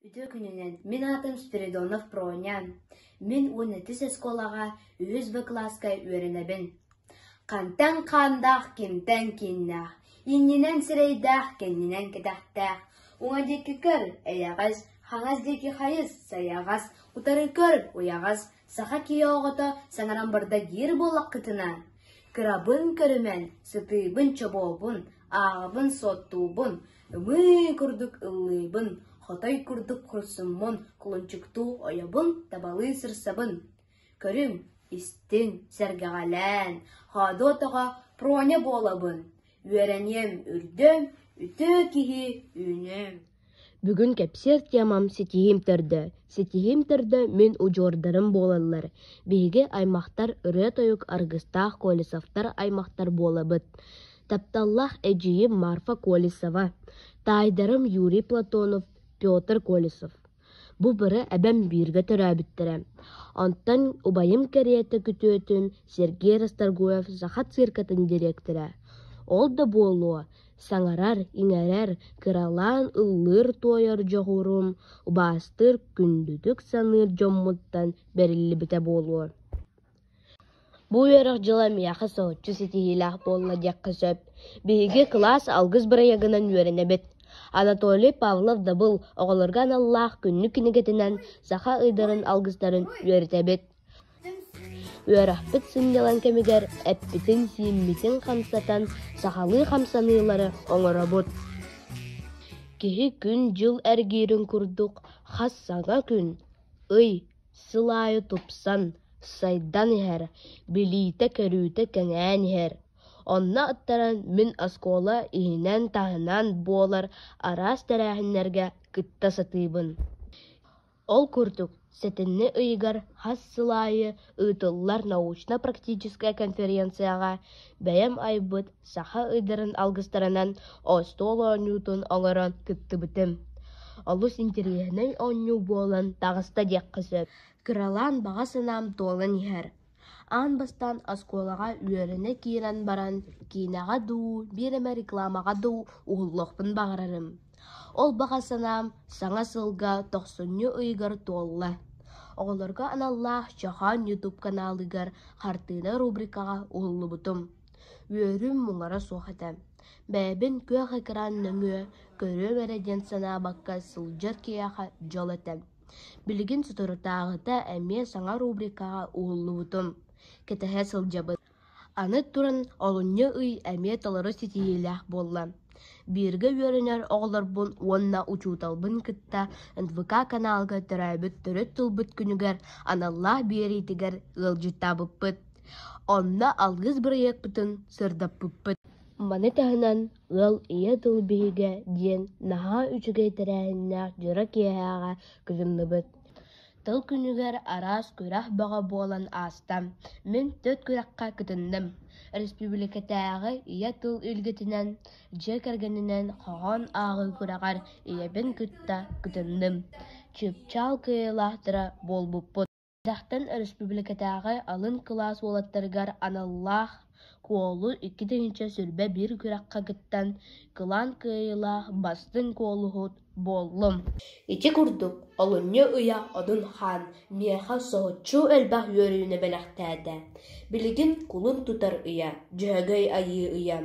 Үтүө күнүнэн! Мин аатым Спиридонов Пронян. Мин уонна үтүс оскуолаҕа үһүс Б кылааска үөрэнэбин. Хантан хаандаах, кимтэн кииннээх, иннинэн сирэйдээх, кэннинэн кэтэхтээх. Уҥа диэки көр, эйэҕэс, хаҥас диэки хайыс, сайаҕас, утары көр, уйаҕас, Саха киһи оҕото саҥаран барда диир буоллаххытына, кырабын көрүмэн, сытыыбын, чобуобун, ааҕабын, суоттуубун, ымыы курдук ыллыыбын, хотой курдук курсуммун, кулунчуктуу ойобун, табалыы сырсабын. Көрүҥ, истиҥ, сэргэҕэлээн, хоодуотоҕо проня буолабын. Үөрэниэм, үрдүөм, үтөө киһи үүнүөм. Бүгүн кэпсиэр темам ситиһиим төрдө. Ситиһиим төрдө мин удьуордарым буолаллар. Биһиги аймахтар ырыа-тойук аргыстаах Колесовтар аймахтар буолабыт. Тапталлаах эдьиийим Марфа Колесова, таайдарым Юрий Платонов, Петр Колесов. Бу бары эбэм бииргэ төрөөбүттэрэ. Онтон убайым кэриэтэ күтүөтүм Сергей Расторгуев Саха циркатын директора. Ол да буолуо, Саҥарар, иҥэрэр, кыралаан ыллыыр-туойар дьоҕурум, убаастыыр, күндүтүк саныыр дьоммуттан бэриллибитэ буолуо. Бу үөрэх дьыла миэхэ соһуччу ситиһиилээх буолла диэххэ сөп. Биһиги кылаас алгыс бырайыагынан үөрэнэбит. Анатолий Павлов-Дабыл оҕолорго аналлаах күннүк кинигэтинэн саха ыйдарын алгыстарын үөрэтэбит. Үөрэхпит сынньалаҥ кэмигэр эппитин-сииммитин хамсатан сахалыы хамсаныылары оҥоробут. Киһи күн-дьыл эргиирин курдук хас саҥа күн, ый, сыл аайы тупсан, сайдан иһэр, билиитэ-көрүүтэ кэҥээн иһэр. Онно аттаран мин оскуола иһинэн-таһынан буолар араас тэрээһиннэргэ кытта сатыыбын. Ол курдук, сэтинньи ыйыгар хас сыл аайы ыытыллар научно-практическай конференцияҕа бэйэм айбыт саха ыйдарын алгыстарынан остуол оонньуутун олорон кыттыбытым. Олус интэриэһинэй оонньуу буолан таҕыста диэххэ сөп. Кыралаан баҕа санаам туолан иһэр Аан бастаан оскуолаҕа үөрэнэ киирэн баран киинэҕэ дуу, биир эмэ рекламаҕа дуу уһуллуохпун баҕарарым. Ол баҕа санаам Саҥа сылга тохсунньу ыйыгар туолла. Оҕолорго аналлаах Чохоон YouTube каналыгар хартыына рубрикаҕа уһуллубутум. Үөрүүм муҥара суох этэ. Бэйэбин күөх экран нөҥүө көрүөм эрэ диэн санаабакка сылдьар киһиэхэ дьол этэ. Билигин соторутааҕыта эмиэ саҥа рубрикаҕа уһуллубутум, кэтэһэ сылдьабын аны туран олунньу ый эмиэ толору ситиһиилээх буолла. Бииргэ үөрэнэр оҕолорбун уонна учууталбын кытта НВК каналга төрөөбүт төрүт тылбыт күнүгэр аналлаах биэриитигэр ыалдьыттаабыппыт. Онно алгыс бырайыакпытын сырдаппыппыт. Маны таһынан Ыал ийэ тыл биһигэ диэн наһаа үчүгэй тэрээһиннээх дьоро киэһээҕэ кыһынныбыт. Тыл күнүгэр араас күрэх бөҕө буолан ааста. Мин төрүт күрэххэ кытынным. Республикатааҕы ийэ тыл үлгэтинэн, дьиэ кэргэнинэн хоһоон ааҕыы күрэҕэр ийэбин кытта кытынным. Чыпчаал кыайыылаахтара буолбуппут Эрдэхтэн өрөспүүбүлүкэтээҕи алын кылаас уолаттарыгар аналлаах куолу икки тыһыынча сүүрбэ биир күрэххэ кыттан, кылаан кыайыылаах бастыҥ куолуһут буоллум. Ити курдук, олунньу ыйа Одун-хаан миэхэ соһуччу элбэх үөрүүнү бэлэхтээтэ. Билигин кулун тутар ыйа, дьөһөгөй айыы ыйа.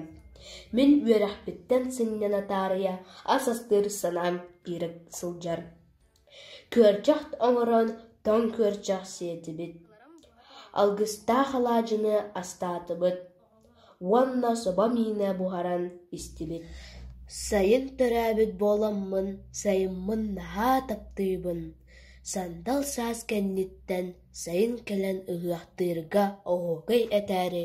Мин үөрэхпиттэн сынньана таарыйа ас астыыр санаам киирэ сылдьар. Күөрчэх оҥорон тоҥ күөрчэх сиэтибит, алгыстаах алаадьыны астаатыбыт уонна собо миинэ буһаран истибит Сайын төрөөбүт буоламмын, сайыммын наһаа таптыыбын, сандал саас кэнниттэн сайын кэлэн ыһыахтыырга оһуокай этээри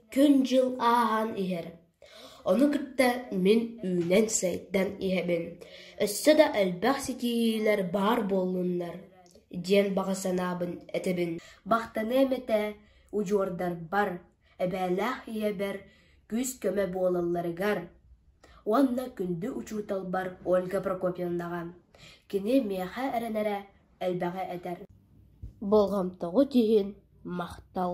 күн-дьыл ааһан иһэр. Ону кытта мин үүнэн-сайдан иһэбин, өссө да элбэх ситиһиилэр баар буоллуннар диэн баҕа санаабын этэбин. Махтаныам этэ удьуордарбар, эбээлээх ийэбэр күүс-көмө буолалларыгар уонна күндү учууталбар Ольга Прокопьевнаҕа. Кини миэхэ эрэнэрэ элбэҕи этэр. Болҕомтоҕут иһин махтал.